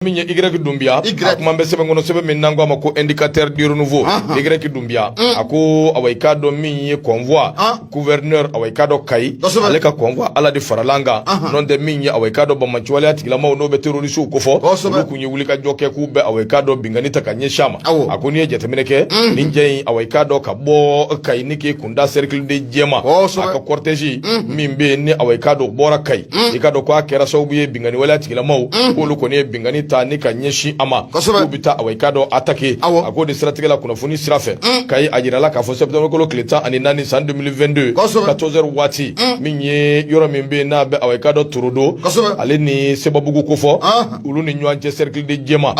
min ye Y dunbiya a kuma bɛ sɛbɛn kɔnɔ sɛbɛn min n'an ko a ma ko indicateur du renouveau Y dunbiya mm. a ko awa i k'a dɔn min ye convoi ah. gouverneur awa i k'a dɔn Kayi ale ka convoi Ala de farala an kan n'o tɛ min ye awa i k'a dɔn banbaanciwaleya tigilamaw n'o bɛ terroristew kofɔ olu kun ye wulikajɔ kɛ k'u bɛ awa i k'a dɔn binkanni ta ka ɲɛsin a ma a ko n'i ye jateminɛ kɛ mm. nin jɛ in awa i k'a dɔn ka bɔ Kayi ni k'i kun da cercle de jɛma a ka cortège mhm. min bɛ yen ni awa i k'a dɔn bɔra kayi mhm. i k'a dɔn ko a kɛra sababu ye binkanni waleya tigilamaw mhm. k'olu kɔni ye binkanni ta ni ka ɲɛsin a ma k'u bɛ taa awa i k'a dɔn attaquer a k'o de siratigɛ la kunnafoni sira fɛ kayi a jirala k'a fɔ septembre kalo tile tan ani naani san 2022 14 heures waati min ye yɔrɔ min bɛ yen n'a bɛ awa i k'a dɔn torodo ale ni sebabugu kofɔ ah. olu ni ɲɔgɔn cɛ cercle de jɛma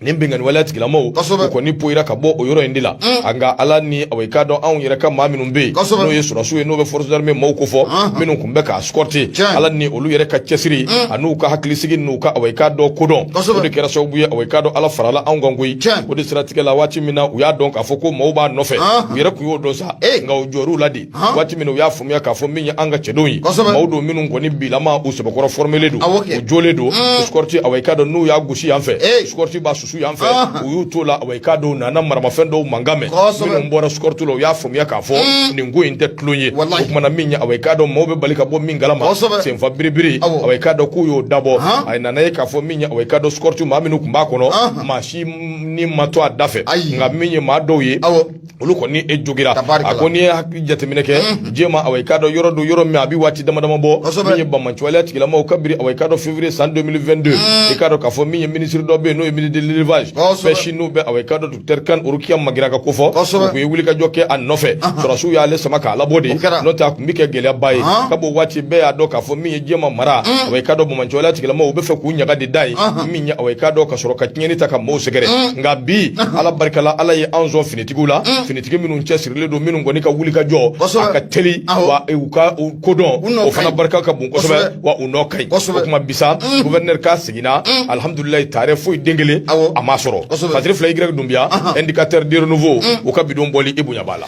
nin binkanni waleya tigilamaw u kɔni poyira ka bɔ o yɔrɔ in de la mm. nka ala ni awa i k'a dɔn anw yɛrɛ ka maa minnu bɛ yen n'o ye sɔrɔdasiw ye n'o bɛ force d'armée maaw ko fɔ mm-hmm. minnu tun bɛ k'a escorter ala ni olu yɛrɛ ka cɛsiri mm. an'u ka hakilisigi n'u ka awa i k'a dɔn kodɔn o de kɛra sababu ye awa i k'a dɔn ala farala anw kan koyi o de siratigɛ la waati min na u y'a dɔn k'a fɔ ko maaw b'a nɔfɛ u yɛrɛ tun y'o dɔn sa nka u jɔrɔla de waati min na u y'a faamuya k'a fɔ min ye an ka cɛdenw ye maaw don minnu kɔni bilama u sɛbɛkɔrɔ fɔrɔmelen don u jɔlen don escorte awa i k'a dɔn n'u y'a gosi yan fɛ escorte b'a susu yan fɛ u y'u t'o la awa i k'a dɔn u nana maramafɛn dɔw mankan mɛn minnu bɔra escorte la u y'a faamuya k'a fɔ mm. nin ko in tɛ tulon ye o tuma na min ye awa i k'a dɔn maaw bɛ bali ka bɔ min kalama senfa biribiri awa i k'a dɔn k'u y'o dabɔ a nana ye k'a fɔ min ye awa i k'a dɔn escorte maa minnu tun b'a kɔnɔ maa si ni ma to a da fɛ nka min ye maa dɔw ye olu kɔni e jogira a ko n'i ye jateminɛ kɛ jɛma awa i k'a dɔn yɔrɔ don yɔrɔ min a bɛ waati dama dama bɔ min ye banbaanciwale tigilamaw kabiri awa i k'a dɔn février san 2022 i k'a dɔn k'a fɔ min ye minisiri dɔ bɛ yen n'o ye ministre de l'élevage pêche n'o bɛ awa i k'a dɔn docteur kane rokiya magiraga kofɔ u tun ye wulikajɔ kɛ a nɔfɛ sɔrɔdasiw y'ale sama k'a labɔ de n'o tɛ a tun bɛ kɛ gɛlɛyaba ye ka b'o waati bɛɛ y'a dɔn k'a fɔ min ye jɛma mara awa i k'a dɔn banbaanciwale tigilamaw u bɛ fɛ k'u ɲaga de da yen ɲɛ awa i k'a dɔn ka sɔrɔ ka tiɲɛni ta ka mɔɔw sɛgɛrɛ mm. nka bi mm. ala barika la ala ye an sɔn finitigiw la mm. finitigi minnu cɛsirilen don minnu kɔni ka wuli ka jɔ a ka teli wa u ka kodɔn o fana barika ka bon kosɛbɛ wa u nɔ ka ɲi o tuma bi sa guvɛrinɛri k'a seginna alihamudulilayi taarɛ foyi den kelen a ma sɔrɔ fatiri fila y dunbiya indicateur de renouveau u ka bi don bɔli i bonya b'a la